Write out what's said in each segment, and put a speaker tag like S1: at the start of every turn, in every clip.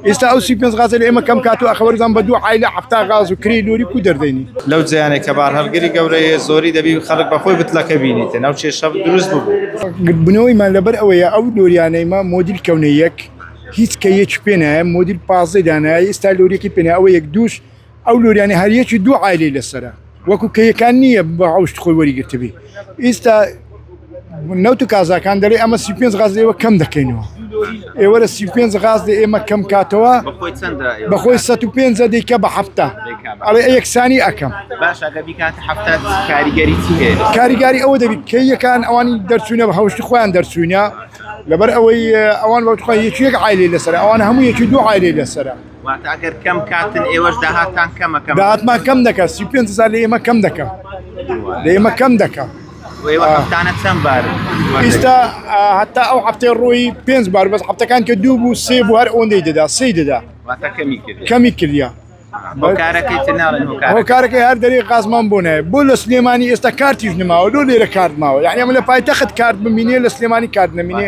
S1: ئیستا ئەو سی پێنج غازە لە ئێمە کەم کات و ئەخەوەرزان بە دوو عایلە حەفتا غاز و کرێی لۆری کو دەردەینی. لەو جێیانەی کە بار
S2: هەڵگری گەورەیە زۆری دەبی خەڵک بە خۆی بتلەکە بینیتن ئەو کێشە دروست ببوو. گردبوونەوەیمان لەبەر
S1: ئەوەیە ئەو لۆریانەیمە مۆدیل کەونە یەک هیچ کەیەکی پێ نایە مۆدیل پازدەی دانایە ئیستا لۆریەکی پێ نایە ئەوە یەک دووش ئەو لۆریانە هەر یەکی دوو عایلەی لەسەرە وەکو کەیەکان نییە بە ڕەوشت خۆی وەریگرتبی ئیستا نەوت و کازاکان دەڵێ ئەمە سی پێنج غاز ئێوە کەم دەکەینەوە ئێوە لە سی پێنج غاز دە ئێمە کەم کاتەوە بەخۆی چەندە ئێوە بەخۆی سە و پێنج دیکە بە هەفتە دەیکات؟ ئەڵێ یەکسانی ئەکەم باش ئەگە بیکات هەفتە کاریگەری چی هەیە لەسەر؟ کاریگاری ئەوە دەبیت کە یەکان ئەوانی دەرچوونە بە هەوشتی خۆیان دەرچوینە لەبەر ئەوەی ئەوان بەوتخوای یەکی یەک عایلی لەسەر ئەوان هەموو یەکی دوو عایلی لەسەرە
S3: واتە ئەگەر کەم کاتن ئێوەش داهاتان کەمە کەم داهاتمان
S1: کەم دەکە سی پێ هزار لە ئێمە کەم دەکەم لە ئێمە کەم دەکەم هەفتانە
S3: چەند بار ئیستا
S1: هەتا ئەو هەفتەی ڕووی پێنج بار بەس هەفتەکان کە دوو بوو سێ بوو هەر ئەوەندەی دەدا سی دەدا کەمی کردیا هۆکارەکەی هەر دەری قازمان بۆ نایە بۆ لە سلێمانی ئێستا کارتیش نماوە لۆ لێرە کارد ماوە یعنی ئەمە لە پایتەخت کارد بمینێ لە سلێمانی کارد نمینێ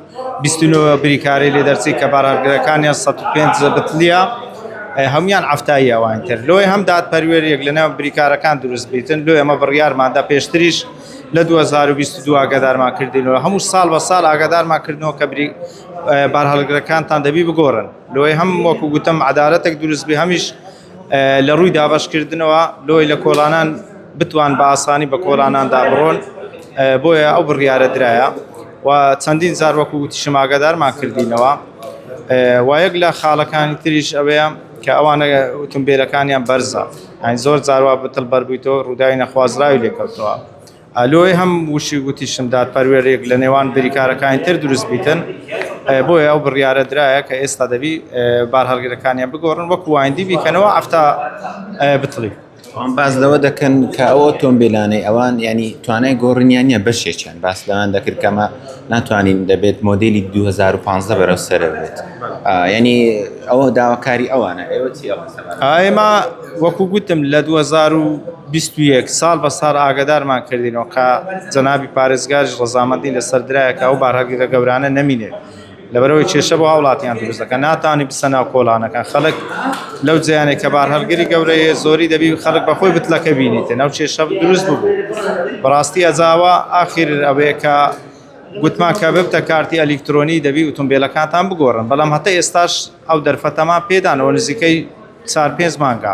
S2: بیست و نۆ بریکارەی لێ دەرچی کە بارهەڵگرەکانیان سەد و پێنج زەبتلیە هەموویان عەفتایی ئەوانی تر لۆیە هەم دادپەروێریەک لە نێوان بریکارەکان دروست بیتن لۆ ئێمە بڕیارمان دا پێشتریش لە دوو هەزار و بیست و دوو ئاگادارمان کردینەوە هەموو ساڵ بە ساڵ ئاگادارمان کردنەوە کە بری بارهەڵگرەکانتان دەبی بگۆڕن لۆیە هەم وەکو گوتم عەدالەتێک دروست بی هەمیش لە ڕووی دابەشکردنەوە لۆی لە کۆڵانان بتوان بە ئاسانی بە کۆڵاناندا بڕۆن بۆیە ئەو بڕیارە درایە و چەندین زار وەکو وتیشم ئاگادارمان کردینەوە وایەک لە خاڵەکانی تریش ئەوەیە کە ئەوانە ئۆتۆمبیلەکانیان بەرزە ئەین زۆر زاروا بتڵ بەربوویتەوە ڕووداوی نەخوازراوی لێکەوتەوە لۆیێ هەم وشی وتیشم دادپەروێریک لە نێوان بریکارەکانی تر دروست بیتن، بۆیە ئەو بڕیارە درایە کە ئێستا دەبی بارهەڵگرەکانیان بگۆڕن وەکو وایندی بیکەنەوە ئەفتا بتڵی. ئەوان باس
S3: لەوە دەکەن کە ئەو ئۆتۆمبیلانەی ئەوان یانی توانای گۆڕینیان نیە بەشێکیان باس لەوان دەکرد کەمە ناتوانین دەبێت مۆدیلی 2015 بەرەو سەرە بێت یعنی ئەوە داواکاری ئەوانە ئێوە چی ئەوە سەبارەت؟ ئێمە
S2: وەکو گوتم لە 2000 بیست و یەک ساڵ بە ساڵ ئاگەدارمان کردینەوە کە جەنابی پارێزگاریش ڕەزامەندی لەسەر درایە کە ئەو بارهەڵگرە گەورانە نەمینێت لەبەرئەوەی کێشە بۆ هاوڵاتیان دروست دەکەن ناتوانی بچە ناو کۆڵانەکان خەڵک لەو جیانێک کە بارهەڵگری گەورەیە زۆری دەبی خەڵک بەخۆی بتلەکە بینیتە ناو کێشە دروست ببوو بەڕاستی ئەزاوە ئاخیر ئەوەیە کە گوتمان کە ببتە کارتی ئەلیکترۆنی دەبی ئۆتۆمبیلەکانتان بگۆڕن بەڵام هەتا ئێستاش ئەو دەرفەتەمان پێدانەوە نزیکەی چار پێنج مانگە